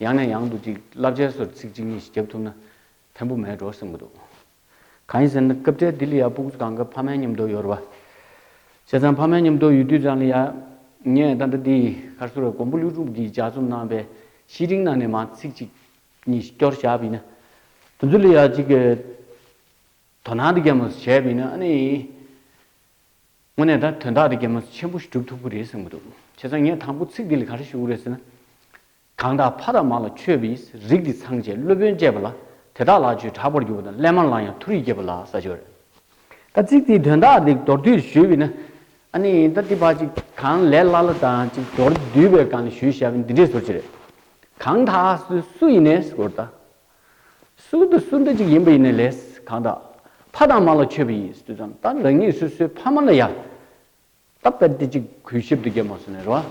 ཡང་ནས་ཡང་དུ་ཅིག་བསླབ་བྱའི་སོར་ཚིགས་གཅིག་གཉིས་ཤིག་བརྒྱབ་ཐུབ་ན་ཕན་པོ་མེད་འགྲོ་སེམས་ཀྱི་འདུག། གང་ཡིན་ཟེར་ན་སྐབས་དེར་ལྡི་ལི་ཡར་སྤུག་ཚུ་གང་གི་ཕ་མའི་ཉམས་རྟོགས་ཡོར་བ། བྱས་ཙང་ཕ་མའི་ཉམས་རྟོགས་ཡོད་དུས་རང་ལི་ཡར་ངས་ད་ལྟ་འདི་གར་ཟུར་བའི་གོང་བུ་ལྷུན་གྲུབ་ཀྱིས་ལྗགས་རྩོམ་གནང་བའི་གཞི་རིང་ནང་ནས་མང་ཚིག་ཅིག་གཉིས་ཤིག་སྐྱོར་བཞག་བས་ན། དུ་ཚུར་ལི་ཡར་ཅིག་གི་དོ་སྣང་དུ་བསྐྱལ་མོ་ཟེར་བྱས་བས་ན་ཨ་ནི། དངོས་གནས་ད་དོན་དག་འདི་རྒྱ་མོ་ཆེན་པོ་ཞིག་སྒྲུབ་ཐུབ་ཀྱི་རེད་གསུངས་ཀྱི་འདུག་བྱས་ཙང་ངས་དང་པོ་ཚིག་འདི་ལ་ག་རེ་ཞུ་གི་རེད་ཟེར་ན། གང་དག་ཕ་དང་མ་ལ་ཆོས་བིས་རིགས་འདི་ཚང་བཅས་སློབ་དཔོན་བཅས་པ་ལ་དེ་དག་ལག་ཆོས་གྲགས་པར་གྱུར་པ་དང་སླད་མར་ལང་ཡང་མཐོ་རིས་སྐྱེས་པ་ལ་ས་ཆོས་རེད། ད་ཚིག་འདིའི་དོན་དག་འདི་མདོར་བསྡུས་ཞུས་བིས་ན། ཨ་ནི་ད་འདི་བ་ཅིག་གང་ལས་སླ་ལ་དང་ཅིག་མདོར་བསྡུས་པའི་སྒང་ལས་ཞུས་ཞབས་འདི་འདྲས་ཟུར་ཅིག་རེད། གང་དག་སུ་ཡིན་ནས་སྐོར་ད། སུའུ་དུ་སུ་འདྲ་ཅིག་ཡིན་པ་ཡིན་ནི་ལས། གང་དག། ཕ་དང་མ་ལ་མཆོད་པ་ཡིས་སུས་ཙམ་བཏབ་རང་ཉིད་སོ་སོའི་ཕ་མ་ལ་ཡང། བཏབ་ལྟ་སྟེ་ཅིག་གུས་ཞབས་དུ་རྒྱལ་མོ་སོ་ནས་རོ།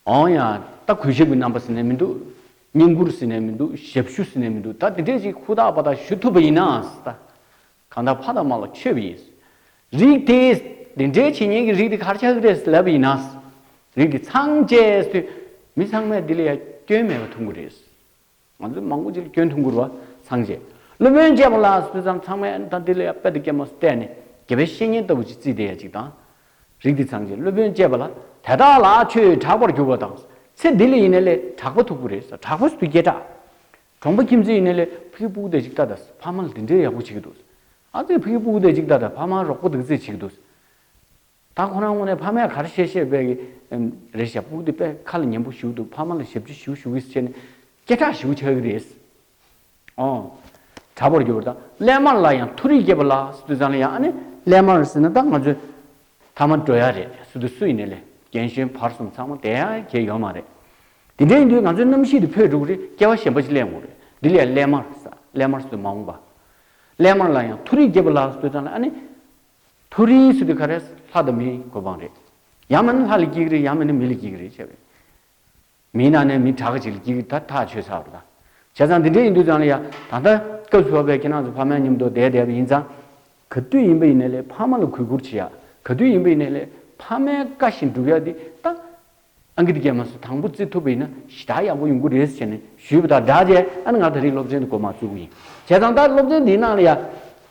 འོང་ཡང། ལྟ་གུས་ཞབས་ཀྱི་རྣམ་པ་ཟིན་ནས་མི་འདུག། བསྙེན་བཀུར་ཟིན་ནས་མི་འདུག་ཞབས་ཞུ་ཟིན་ནས་མི་འདུག་ད་དེ་འདྲས་ཅིག་ཧུར་ཐག་པ་དག་ཞུ་ཐུབ་པ་ཡིན་ནའང། གང་དག་ཕ་དང་མ་ལ་མཆོད་པ་ཡིན། རིགས་དེས་དེ་འདྲའི་བྱས་ཉེས་ཀྱི་རིགས་དེ་གར་ཆགས་ཀྱི་རེད་ལབ་པ་ཡིན་ན། རིགས་དེ་ཚང་བཅས་སུ་མི་ཚང་མས་དེ་ལ་ཡང་སྐྱོན་མེད་པར་ཐུགས་འགུར་རེད། ང་ཚོས་མང་པོ་ཅིག་ལ་སྐྱོན་ཐུགས་འགུར་བ་ཚང་བཅས་སློབ་དཔོན་བཅས་པ་ལ་སོས་ཙང་ཚང་མས་ད་དེ་ལ་ཡང་དཔེ་དང་སྐྱེལ་མ་སུ་བལྟས་ནས་དགེ་བའི་བཤེས་གཉེན་ལྟ་བུ་ཅིག་བརྩིས་བསྡད་ཡ་ཅིག་དང། རིགས་དེ་ཚང་བཅས་སློབ་དཔོན་བཅས་པ་ལ་དེ་དག་ལ་ཆོས་དྲག་པར་གྱུར་པ་དང་ཚེ་འདི་ལ་ཡིན་ན་ལས་དྲག་པ་ཐུགས་འགུར་རེད་ས་དྲག་པ་སུ་དུ་སྐྱེལ་དྲག་གྲོང་པ་ཁྱིམ་མཚེས་ཡིན་ན་ལས་ཕ་གི་སྤུ་གུ་དེ་ཅིག་ལྟ་དང་ཕ་མ་ལ་དེ་འདྲའི་ཡག་པོ་བྱེད་ཀྱི་འདུག་ཨ་ཙི་ཕ་གི་སྤུ་གུ་དེ་ཅིག་ལྟ་དང་ཕ་མ་རོགས་པོ་འདུག་ཚེ་བྱེད་ཀྱི་འདུག་ད་ཁོ་རང་ངོ་ནས་ཕ་མས་ག་རེ་བཤད་བཤད་བས་ཀྱི་རེད་ཞག་སྤུ་གུ་དེ་པས་ཁ་ལ་ཉན་པོ་ཞུགས་འདུག་ཕ་མ་ལ་ཞབས་ཕྱི་ཞུ་ཞུ་གིས་བྱས་ནས་སྐད་གྲགས་ཞུ་ཆགས་ཀྱི་རེད། ཨོ། དྲ་པར་འགྱུར་བ་དང་ཀླད་དམར་ལ་ཡང་མཐོ་རིས་སྐྱེས་པ་ལགས་སུ་དུས་ཚང་ལ་ཡང་ཨ་ནེ་ཀླད་དམར་ཟེར་ན་ད་ང་ཚོས་ཐ་མ་འགྲོ་ཡ་རེད་སུ་དུ་སུ་ཡིན་ནི་ལས་རྒན་གཞོན་བར་གསུམ་ཚང་མ་དེ་ཡ་གྱེས་ཡོད་མ་རེད་དེ་འདྲ་ཡིན་དུས་ང་ཚོའི་རྣམ་ཤེས་དེ་ཕོད་འགྲོ་གི་རེད་སྐྱེ་བ་གཞན་པ་ཞིག་གླེང་དགོས་རེད་འདི་ལས་གླེན་དམར་ས་གླེན་དམར་སུ་དུ་མ་འོངས་པ་གླེན་དམར་ལ་ཡང་ཐུགས་རིག་སྐྱེས་པ་ལགས་སུ་དུ་ཚང་ལ་ཨ་ནི་ཐུགས་རིག་སུ་དུ་ག་རེ་ལྷ་དང་མིའི་གོ་འཕང་རེད་ཡང་མིན་ལྷ་ལ་སྐྱེ་གི་རེད་ཡང་མིན་ནི་མི་ལ་སྐྱེ་གི་རེད་བྱས་པས། མིའི་ནང་ནས་མི་དྲག་ཅིག་ཀྱིས་ད་ཐག་ཆོད་ཚར་བ་དང། བྱས་ཙང་དེ་འདྲས་ཡིན་དུས་ཙང་ལ་ཡང་ད་ལྟ་སྐབས་སུ་བབས་པའི་ཁྱེད་རང་ཚོ་ཕ་མའི་མཉམ་དུ་བསྡད་བསྡད་པ་ཡིན་ཙང། ག་དུས་ཡིན་པ་ཡིན་ན་ལས་ཕ་མ་ལ་གུས་བཀུར་བྱེད་ཡ། ག་དུས་ཡིན་པ་ཡིན་ན་ལས་ཕ་མའི་བཀའ་བཞིན་སྒྲུབ་ཡ་དེ་ད་ཨང་ཀི་དེ་རྒྱལ་མ་སོ་དང་པོ་བརྩི་ཐུབ་པ་ཡིན་ན་གཞི་རྟགས་ཡག་པོ་ཡོང་གི་རེད་ཟེར་ནས་ཞུས་པ་དང་སྦྲགས་རྗེས་ཨ་ནི་ང་ད་རིགས་སློབ་ཆེན་དུ་གོ་མ་བཅུག་གི་ཡིན། བྱས་ཙང་ད་སློབ་ཆེན་དེའི་ནང་ལ་ཡང།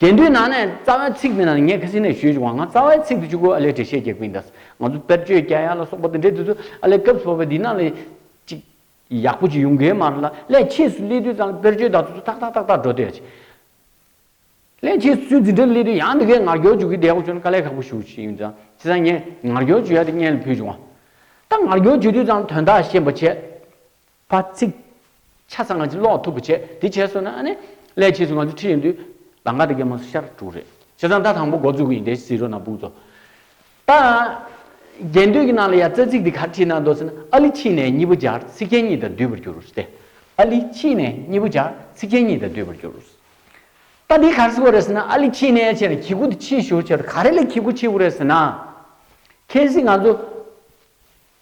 དེ་འདུས་ན་ནས་རྩ་བའི་ཚིག་དེ་ན་ངས་ཁ་སི་ནས་ཞུས་བྱུང་བ་ང་རྩ་བའི་ཚིག་དེ་བཅུག་གོ་ཨ་ལས་འགྲེལ་བཤད་རྒྱག་པིན་དཱ། ང་ཚོ་དཔེར་བརྗོད་རྒྱ་ཡག་ལ་སོགས་པ་དེ་འདྲས་དེ་ཚོ་ཨ་ལས་སྐབས་སུ་བབ་པའི་འདི་ན་ལས་ཅིག་ཡག་པོ་ཅིག་ཡོང་གི་མ་རེད་ལ་ལས་ཁྱེད་སུ་སླེབས་དུས་ཙང་དཔེར་བརྗོད་དག་ཚུ་ཚུ་ཐག་ཐག་ཐག་ཐག་འགྲོ་དེ་རེད། ལས་ཁྱེད་སུ་འདི་འདྲ་སླེབས་དུས་ཡང་འདི་གའི་ངར་སྐྱོར་འཇུག་གི་བསྡད་གོ་ཆོག་ན་དཀའ་ལས་ཁག་པོ་ཞུ་ཞེས་ཡིན་ཙང་དེ་ཙང་ངས་ངར་སྐྱོར་བྱུས་ཡ་དེ་བརྙན་ལ་ཕུལ་བྱུང་བ། ད་ངར་སྐྱོར་བྱུས་དུས་ཙང་དོན་དག་ཤེས་པ་བྱས། པ་ཚིག། ཆ་ཚང་ང་ཚོས་ཀློག་ཐུབ་པ་བྱས། དེ་བྱས་སོང་ན་ཨ་ནི། སླད་ཕྱིས་སུ་ང་ཚོ་ཁྲིད་ཡོང་དུས། ལ་འགག་དེ་གའི་མོ་སོ་ཤར་དྲུག་རེད། བྱས་ཙང་ཟླ་དང་པོ་འགོ་བཙུགས་གི་ཡིན་དེ་བཞིན་རོ་ན་སྦུག་ཚོ། ད། རྒྱན་དུས་ཀྱི་ནང་ལ་ཡང་རྩ་ཚིག་འདི་གར་ཁྲིད་གནང་འདུག་ཟེར་ན་ཨ་ལི་ཕྱིས་ནས་གཉིས་པོ་སྦྱར་ཚིག་རྒྱན་གཉིས་དང་བསྡུས་པར་འགྱུར་རོ་སྟེ། ཨ་ལི་ཕྱིས་ནས་གཉིས་པོ་སྦྱར་ཚིག་རྒྱན་གཉིས་དང་བསྡུས་པར་འགྱུར། ད་འདི་གར་སུ་གོ་རེད་ཟེར་ན་ཨ་ལི་ཕྱིས་ནས་བྱས་ན་གྱི་གུ་དེ་ཕྱིས་ཞུགས་བྱས་ཏེ་ག་རེ་ལས་གྱི་གུ་ཕྱིས་གུ་རེད་ཟེར་ན། གལ་སྲིད་ང་ཚོ།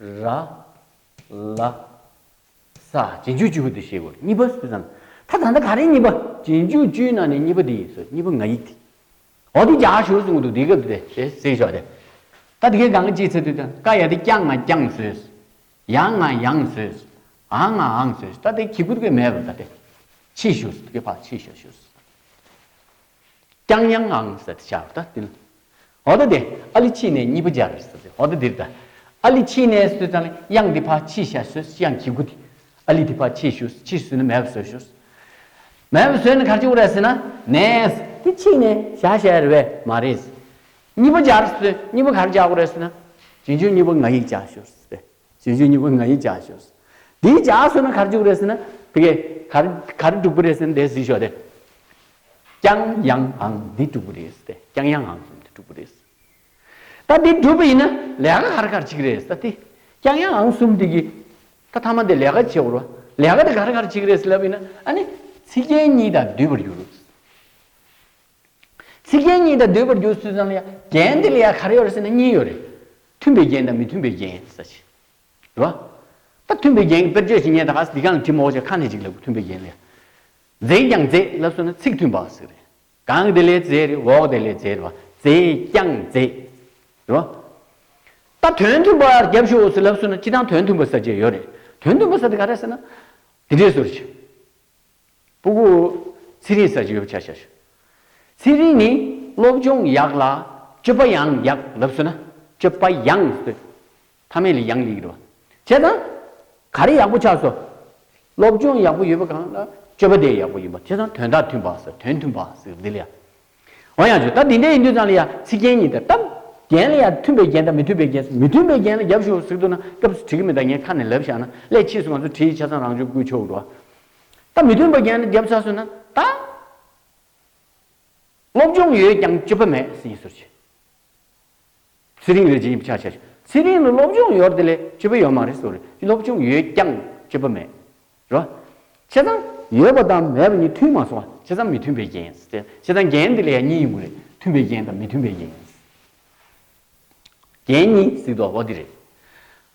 ར། ལ། ས། རྗེས་འཇུག་བཅུ་བོ་དེ་ཤེས་དགོས་གཉིས་པ་སུ་ཙམ། ད་ད་ནི་ག་རེ་གཉིས་པ། རྗེས་འཇུག་བཅུའི་ནང་ནས་གཉིས་པ་འདི་ཡིན་ཟེར་གཉིས་པ་ང་ཡིག་དེ། འོ་དེ་རྒྱག་ཞོར་གསུངས་གི་འདུག་དེའི་སྐབས་དེ་ཞེས་གཟིགས་ཤོག་དེ། ད་དེ་གའི་ག་ང་ཅིའི་ཚེ་དུས་དང་ཀ་ཡ་དེ་ཀྱང་ང་རྐྱང་ཟོས། ཡ་ང་ཡང་ཟོས། ཨ་ང་ཨང་ཟོས་ད་དེ་གི་གུ་དེ་གའི་མེད་པ་ད་དེ། ཕྱིས་ཞུས་དེ་གའི་ཕ་ཕྱིས་ཞོ་ཞུས། ཀྱང་ཡང་ཨང་ཟེར་ཏེ་བྱ་བ་ལྟ་བསྟུན། འོ་ད་དེ་ཨ་ལི་ཕྱིས་ནས་གཉིས་པ་སྦྱར་ཟེར་ཏེ་འོ་ད་དེར་ད་ཨ་ལི་ཕྱིས་ནས་ཟོས་ཙང་ལ་དབྱངས་འདི་ཕ་ཕྱིས་ཤ་ཟོས་དབྱངས་ཁྱི་གུ་དེ་ཨ་ལི་དེ་ཕ་ཕྱིས་ཤུས་ཕྱིས་ཟོས་ན་མེད་པ་ཟོས་ཤོས་མེད་པ་ཟོས་ན་གར་ཆུ་བོ་ར་ཟེར་ན་ནས་དེ་ཕྱིས་ནས་ཤ་བྱས་ར་བས་མ་རེད་ཟེར་གཉིས་པ་སྦྱར་ཟོས་གཉིས་པ་གར་བྱ་བོ་ར་ཟེར་ན་བྱིན་ཆུང་གཉིས་པ་ང་ཡིག་བྱ་ཤོས་ཟེར་བས། བྱེད་རྒྱུ་གཉིས་པོ་ང་ཡིས་བྱ་ཞོག་ཟེར། དེས་བྱ་ཟེར་ན་གར་འཇུག་རེད་ཟེར་ན། དེ་གས་གར་གར་འགྲུག་པོ་རེད་ཟེར་ན་དེས་ཟིག་ཞོག་དེ། ཀྱང་ཡང་ཨང་འདི་འགྲུག་པོ་རེད་ཟེར་ཏེ་ཀྱང་ཡང་ཨང་གསུམ་འདི་འགྲུག་པོ་རེད་ཟེར། ད་འདི་འགྲུབ་པ་ཡིན་ན་ལས་ཀ་གར་གར་གཅིག་རེད་ཟེར་ཏེ། ཀྱང་ཡང་ཨང་གསུམ་འདི་གིས། ད་ཐ་མ་འདི་ལས་ཀ་བྱེད་བོར་བ། ལས་ཀ་འདི་གར་གར་གཅིག་རེད་ཟེར་ལབ་ཡིན་ན་ཨ་ནི། ཚིག་རྒྱན་གཉིས་དང་བསྡུས་པར་འགྱུར། ཚིག་རྒྱན་གཉིས་དང་ཟློས་པར་འགྱུར་ཚུལ་ཙམ་ལ་ཡང་རྒྱན་འདི་ལ་ཡང་ག་རེ་ཡོད་རེ་ཟེར་ན་གཉིས་ཡོད་རེད། མཐུན་པའི་རྒྱན་དང་མི་མཐུན་པའི་རྒྱན་ཟེར་ས་ཞིག་རེད། རེད་བ། ད་མཐུན་པའི་རྒྱན་གྱི་དཔེར་བརྗོད་བྱེད་ཉེན་ད་ག་ཟེ་འདི་གང་ལ་བྲིས་མོ་བྱེད་ཁ་ནས་ཅིག་ལབ་མཐུན་པའི་རྒྱན་ལ་ཡང། རྫས་ཀྱང་རྫས་ལབ་བསོད་ན་ཚིག་མཐུན་པ་ཟེར་རེད། གང་དེ་ལས་རྫས་རེད་འོག་དེ་ལས་རྫས་རེད་བ། རྫས་ཀྱང་རྫས། རེད་བ། ད་དོན་མཐུན་པ་རྒྱབ་ཞུགས་འོག་ཟེར་ལབ་བསོད་ན་སྤྱི་དང་དོན་མཐུན་པ་ཟེར་བྱེད་ཡོད་རེད། དོན་མཐུན་པ་ཟེར་དེ་ག་རེ་ཟེར་ན། དེ་འདྲའི་ཟུར་ཞིག། པུ་གུ། ཚེ་རིང་ས་ཅི་ཡོད་པ་ཆ་ཤས་ཤོད། ཚེ་རིང་ནི་སློབ་སྦྱོང་ཡག་ལ་སྤྱོད་པ་ཡང་ཡག་ལབ་སོད་ན་སྤྱོད་པ་ཡང་སོད་མཐའ་མེད་ལ་ཡང་ཡིག་རུ་བ་བྱས་ན་ག་རེ་ཡག་པོ་ཆགས་སོ་སློབ་སྦྱོང་ཡག་པོ་ཡོད་པ་གང་ལ་སྤྱོད་པ་དེ་ཡག་པོ་ཡིན་པ་བྱས་ན་དོན་དག་མཐུན་པ་སོད་དོན་མཐུན་པ་སོད་འདི་ལ་ཡང་འོ་ཡང་བྱུང་ད་དེ་འདྲ་ཡིན་དུས་ཙང་ལ་ཡང་ཚིག་རྒྱན་གཉིས་དང་སྟབས་རྒྱན་ལ་ཡང་མཐུན་པའི་རྒྱན་དང་མི་མཐུན་པའི་རྒྱན་སོགས་མི་མཐུན་པའི་རྒྱན་ལ་རྒྱབ་ཞུ་བ་ཟིག་འདུག་ན་སྐབས་སུ་བྲི་གི་མི་གདའ་ངས་ཁ་ནས་ལབ་བཞག་ན་སླད་ཕྱིས་སུ་ང་ཚོ་བྲིས་ཆ་ཚང་རང་བྱུང་བསྐུལ་ཆོག་འགྲོ། ད་མི་མཐུན་པ་རྒྱན་ལ་རྒྱབ་ཚར་སོང་ན་ད། སློབ་སྦྱོང་ཡོད་ཀྱང་སྤྱོད་པ་མེད་ཟེར་ཡིན་ཟུར་བྱས། ཚེ་རིང་རེད་ཅེས་ཡིབ་ཆགས་བྱས་བྱུང། ཚེ་རིང་ལ་སློབ་སྦྱོང་ཡོད་རེད་ལས་སྤྱོད་པ་ཡོད་མ་རེད་སོ། སློབ་སྦྱོང་ཡོད་ཀྱང་སྤྱོད་པ་མེད། རོ། བྱས་ཙང། ཡོད་པ་དང་མེད་པ་གཉིས་མཐུན་མ་སོང། བྱས་ཙང་མི་མཐུན་པའི་རྒྱན། བྱས་ཙང་རྒྱན་འདི་ལ་ཡང་གཉིས་ཡོད་དགོས་རེད། མཐུན་པའི་རྒྱན་དང་མི་མཐུན་པའི་རྒྱན། རྒྱན་གཉིས་གཟིགས་འདུག་ཨོ་དེ་རེད།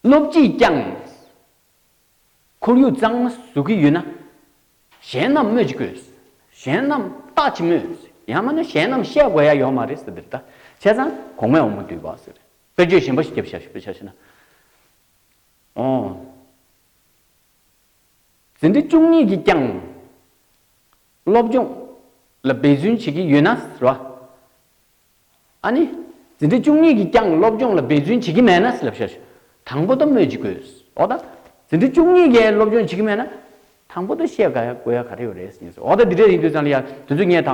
སློབ་སྤྱིས་ཀྱང། ཁོར་ཡུག་གཙང་མ་བཟོ་གི་ཡོད་ན། གཞན་རྣམས་སྨོད་ཅི་དགོས། གཞན་རྣམས་བརྟག་ཅི་སྨོས། ཡང་མིན་ན་གཞན་རྣམས་བཤད་དགོས་ཡ་ཡོད་མ་རེད་ཟེར་དེར་ད་བྱས་ཙང་གོང་མའི་འོ་མ་དུད་པ་ཟེར། དཔེར་བརྗོད་གཞན་པ་ཞིག་བརྒྱབ་བྱ་ཞེ་ན། ཨོ། ཟིན་བྲིས་བཅུ་གཉིས་ཀྱིས་ཀྱང། སློབ་སྦྱོང་ལ་འབད་བརྩོན་བྱེད་ཀྱི་ཡོད་ན་ཟེར་བ། ཨ་ནི། འཛིན་གྲྭ་བཅུ་གཉིས་ཀྱིས་ཀྱང་སློབ་སྦྱོང་ལ་འབད་བརྩོན་བྱེད་ཀྱི་མེད་ན་སླབ་བྱ་དང་པོ་དང་སྨོས་ཅི་དགོས། འོ་ད། འཛིན་གྲྭ་བཅུ་གཉིས་ཀས་སློབ་སྦྱོང་བྱེད་ཀྱི་མེད་ན། དང་པོ་དང་བཤད་དགའ་ཡ་དགོས་ཡ་ག་རེ་ཡོད་རེད་ཟེར། འོ་ད་འདི་འདྲ་ཡིན་དུས་ཙང་ལི་ཡ་དེ་ཚོས་ངས་ད་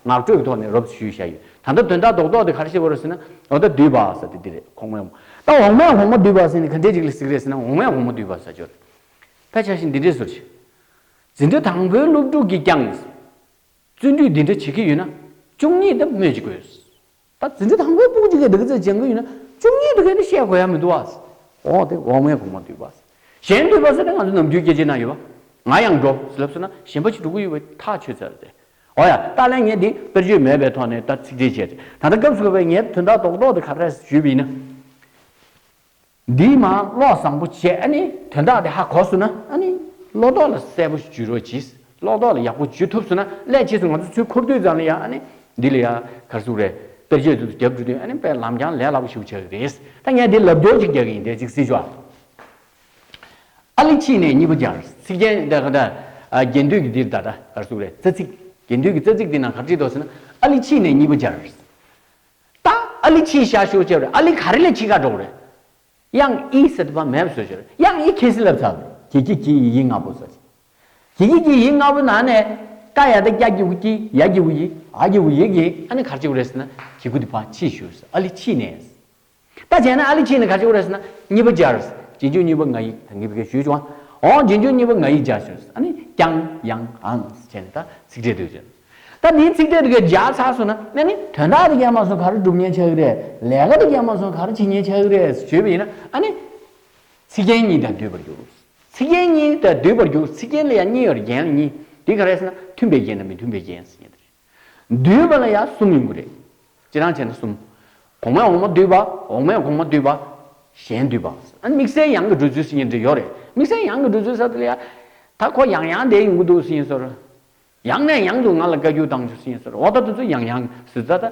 ངག་སྤྲོད་ཀྱི་ཐོག་ནས་རོབ་ཞུས་བཞག་ཡོད། ད་ལྟ་དོན་དག་རྡོག་རྡོག་དེ་ག་རེ་བཤད་དགོས་རེད་ཟེར་ན། འོ་ད་དུས་བབས་ས་དེ་འདི་རེད་གོང་མའི་འོ་ད་འོག་མའི་འོག་མ་དུས་བབས་ས་ནི་ག་འདྲའི་རིགས་ལ་གཟིགས་རེད་ཟེར་ན་འོག་མའི་འོག་མ་དུས་བབས་ས་ཅོ་རེད། ཕལ་ཆེར་ཞིག་འདི་འདྲས་ཟུར་ཆེ། འཛིན་གྲྭ་དང་པོའི་སློབ་ཕྲུག་གིས་ཀྱང། བརྩོན་འགྲུས་འདི་འདྲ་བྱེད་ཀྱི་ཡོད་ན་བཅུ་གཉིས་འདི་སྨོས་ཅི་དགོས། ད་བརྩོན་འགྲུས་དང་པོའི་དཔུང་གཅིག་གི་སྡིག་རྩུབ་སྦྱང་གི་ཡོད་ན་བཅུ་གཉིས་འདི་གས་འདི་བཤད་དགོས་ཡ་མི་འདུག་བ། འོ་དེ་འོག་མའི་གོང་མ་འདུས་པ། གཞན་འདུས་པ་ཟེར་ན་ང་ཚོ་ནམ་རྒྱུན་སྐྱེ་རྗེས་ན་ཡོད་པ། ང་ཡང་འགྲོ་ཟེར་ལབ་སོང་ན་གཞན་པ་ཅིག་འགྲོ་གི་ཡོད་པ་ཐག་ཆོད་ཚར་ཏེ། འོ་ཡ་ཏཱ་ལས་ངས་འདི་དཔེར་བརྗོད་མེད་པའི་ཐོག་ནས་ད་ཚིག་འགྲེལ་བྱས་ཏེ་ད་ལྟ་སྐབས་སུ་བབས་པའི་ངའི་དོན་དག་རྡོག་རྡོག་འདི་ག་རེ་ཞུས་པ་ཡིན་ན། འདིའི་མ་བློ་བཟང་པོ་བྱས་ཨ་ནི་དོན་དག་འདི་ཧ་གོ་བསུ་ན་ཨ་ནི་བློ་ལྡོག་ལ་གསལ་པོ་འཇུས་རོགས་གྱིས་བློ་ལྡོག་ལ་ཡག་པོ་འཇུས་ཐུབ་བསུ་ན་སླད་ཕྱིས་སུ་ང་ཚོ་ཚུལ་འཁོར་དུས་ཙམ་ལ་ཡང་ཨ་ནི་འདི་ལ་ཡང་གར་སུ་རེད་དཔེར་བརྗོད་དུ་རྒྱབ་འགྲོ་དུས་ཨ་ནི་དཔེ་ལམ་རྐྱང་ལས་སླ་པོ་ཞིག་བྱ་གི་རེད་ད་ངས་འདི་ལབ་སྦྱོར་ཅིག་རྒྱག་གི་ཡིན་དེ་ཅིག་སྲིད་ཕྱོགས་ཨ་ལི་ཕྱིས་ནས་གཉིས་པ་སྦྱར་ཚིག་རྒྱན་དེ་ག་དྲ་རྒྱན་དུས་ཀྱི་འདིར་ད་དྲ་གར་སུ་རེད་རྩ་ཚིག་རྒྱན་དུས་ཀྱི་རྩ་ཚིག་འདི་ནང་གར་བྲིས་འདུག་བསུ་ན་ཨ་ལི་ཕྱིས་ནས་གཉིས་པ་སྦྱར། ད་ཨ་ལི་ཆིའི་ཤ་ཤོ་ཅེས་པར་ཨ་ལི་ག་རེ་ལས་ཆི་ཁ་འགྲོགས་རེད། དབྱང་ཨི་སི་ཏི་པ་མེབ་སོ་ཞོར་དབྱང་ཨི་ཁེ་སི་ལབ་ཚར་བས་གི་གི་གི་ཡི་ཡི་ང་པོ་ཟ་ཅི། གི་གི་གི་ཡི་ང་པོ་ན་ནས་ཀ་ཡ་ཏི་ཀྱ་གི་ཝུ་ཀྱི་ཡ་གི་ཝུ་ཡི་ཨ་གི་ཝུ་ཡི་གི་ཨ་ནི་གར་ཅི་ཝུ་རེ་སི་ན་གི་གུ་ཏི་པ་ཆི་ཤོར་སི་ཨ་ལི་ཆི་ནས་སི། ད་བྱས་ན་ཨ་ལི་ཆིན་ནི་ག་ཅིག་བོ་རེད་ཟེར་ན། གཉིས་པ་སྦྱར། རྗེས་འཇུག་གཉིས་པ་ང་ཡིག་ད་གི་བི་གེ་ཞུས་བྱུང་ཨ། འོང་རྗེས་འཇུག་གཉིས་པ་ང་ཡིག་སྦྱར་ཟེར། ཨ་ནི་ཀྱང་ཡང་ཨང་བྱས་ནས་ད་ཚིག་འགྲེལ་འདོད་བྱས། ད་འདིའི་ཚིག་འགྲེལ་དུ་གས་སྦྱར་ཚར་སོང་ན་ཨ་ནི་དོན་དག་དུ་གས་མ་སོང་ག་རེ་སྒྲུབ་ཉེན་ཆགས་ཀི་རེད། ལས་ཀ་དུ་གས་མ་སོང་ག་རེ་བྱེད་ཉེན་ཆགས་ཀི་རེད་ཟེར་བྱོས་པ་ཡིན་ན་ཨ་ནི། ཚིག་རྒྱན་གཉིས་ད་འདུས་པར་འགྱུར། ཚིག་རྒྱན་གཉིས་ད་འདུས་པར་འགྱུར་ཚིག་རྒྱན་ལ་ཡང་གཉིས་ཡོད་རེད་རྒྱན་ལ་གཉིས། འདི་ག་རེད་ཟེར་ན་མཐུན་པའི་རྒྱན་དང་མི་མཐུན་པའི་རྒྱན་ཟེར་ཉེན་ཏེ་རེད། བསྡུས་པ་ལ་ཡང་གསུམ་ཡོང་གི་རེད། སྤྱི་རང་བྱས་ན་གསུམ། གོང་མའི་འོག་མ་བསྡུས་པ། འོག་མའི་གོང་མ་བསྡུས་པ། གཞན་བསྡུས་པ། དམིགས་བསལ་ཡང་གི་འགྲུལ་ཚུལ་ཟེར་གྱི་འདྲི་ཡོད་རེད། དམིགས་བསལ་ཡང་གི་འགྲུལ་ཚུལ་ཟེར་དུ་ལ། ད་ཁོ་ཡང་ཡང་བསྡད་ཡོང་གི་འདུག་ཟེར་གྱིན་སོར། ཡང་ནས་ཡང་དུ་ང་ལ་བཀའ་རྒྱུ་བཏང་ཆོག་ཟེར་གྱིན་སོར། འོ་ད་དུས་ཚོད་ཡང་ཡང་ཟུར་ཙ་ཙ།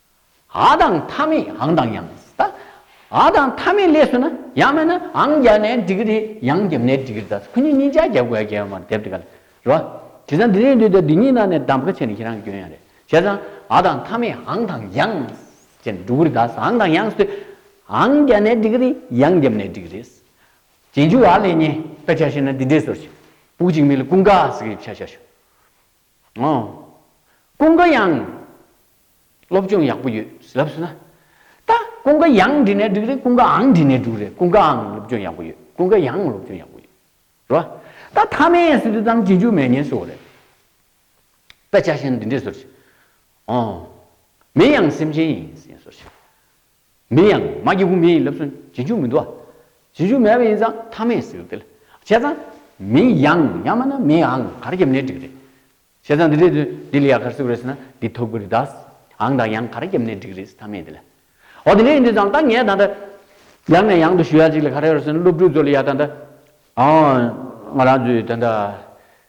ཨ་དང་ཐ་མི་ཨང་དང་ཡང་ད། ཨ་དང་ཐ་མི་ལས་སུ་ན་ཡང་མེད་ན་ཨང་བརྒྱ་ནས་འགྲིག་གི་རེད་ཡང་བརྒྱ་མེད་འགྲིག་གི་རེད་ད་ཁོ་གཉིས་གཉིས་ཅག་བརྒྱ་དགོས་ཡ་བརྒྱ་ཡོད་མ་རེད་དེབ་དེ་ག་ལ་རེད་བ། དེ་སང་འདི་རིང་དུས་དེབ་འདི་གཉིས་ནང་ནས་གདམ་ཀ་བྱས་ནས་ཁྱེད་རང་གྱོན་ཡ་རེད་བྱས་ཙང་ཨ་དང་ཐ་མི་ཨང་དང་ཡང་ཅེས་འགྲོ་གི་རེད་ད་ཨང་དང་ཡང་དེ་ཨང་བརྒྱ་ནས་འགྲིག་གི་རེད་ཡང་བརྒྱ་མེད་འགྲིག་གི་རེད། རྗེས་འཇུག་ཨ་ལས་ཉེས་པ་བྱ་ཤེས་ན་འདི་འདྲས་བཟོར་བྱེད། བུག་ཅིག་མི་ལ་ཀུན་དགའ་ཟེར་གི་ཡོད་བྱ་བྱ་ཞོ། ངོ། ཀུན་དགའ་དབྱངས། སློབ་སྦྱོང་ཡག་པོ་ཡོད་ལབ་སོང་ན། ད་ཀུན་དགའ་དབྱངས་འབྲི་ནས་འགྲིག་རེད་ཀུན་དགའ་ཨང་འབྲི་ནས་འགྲུག་རེད་ཀུན་དགའ་ཨང་སློབ་སྦྱོང་ཡག་པོ་ཡོད་ཀུན་དགའ་དབྱངས་སློབ་སྦྱོང་ཡག་པོ་ཡོད། རེད་བ། ད་མཐའ་མའི་ཡན་སྲིད་དུ་ཙམ་བྱེད་རྒྱུ་མེད་ངེས་སོ་རེད། དཔེ་ཆ་གཞན་འདི་འདྲས་བཟོ་རྒྱུ། ཨོ། མིན་ཡང་སེམས་ཅན་ཡིན། ཡིན་བཟོ་རྒྱུ། མིན་ཡང་མ་སྐྱེས་བུ་མེད་ཡིན་ལབ་སོན་བྱེད་འཇུག་མི་འདུག་ཨ། བྱེད་འཇུག་མེད་པ་ཡིན་ཙང་མཐའ་མེད་ཟེར་ཏེ། བྱས་ཙང། མིན་ཡང་ཡང་མ་ན་མེད་ཨང་གར་རྒྱབ་ནས་འགྲིག་རེད། བྱས་ཙང་འདི་འདྲས་དུས་འདི་ལ་ཡང་གར་སིབ་རེས་ན་འདི་ཐོབ་གི་རེད་ད། ཨང་དང་ཡང་གར་རྒྱབ་ནས་འགྲིག་རེས་མཐའ་མེད་དེ་ལ། འོ་དེ་འདྲས་ཡིན་དུས་ཙང་ད་ངས་ད་ལྟ། ཡང་ནས་ཡང་དུ་ཞུ་ཡག་ཅིག་ལ་ག་རེ་ཡོད་རེ་ཟེར་ན་སློབ་ཕྲུག་ཚོ་ལ་ཡ་ད་ལྟ། ཨང། ང་རང་ཚོའི་ད་ལྟ།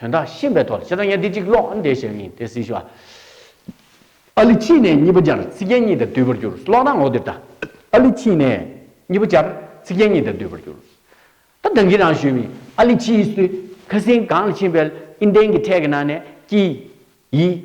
དོན་དག་ཤེས་པའི་ཐོག་ལ་ཁྱེད་རང་གཉའ་ཐིག་གཅིག་ཀློག་ཨ་འདས་ཞེས་པ་ཡིན་དེ་སྲིད་ཞུ། ཨ་ལི་ཕྱིས་ནས་གཉིས་པ་སྦྱར་ཚིག་རྒྱན་གཉིས་དང་བསྡུས་པར་གྱུར་ཀློག་ན་ངོ་དེབ་དང། ཨ་ལི་ཕྱིས་ནས་གཉིས་པ་སྦྱར་ཚིག་རྒྱན་གཉིས་དང་བསྡུས་པར་གྱུར། ད་བདག་གིས་རང་ཞུས་མིན་ཨ་ལི་ཕྱིས་སུ་ཁ་སིང་གངས་ལ་ཕྱིན་པའི་ཨིན་ཏན་གྱི་ཁྲལ་གྱི་ནང་ནས་ཀྱི། ཡི།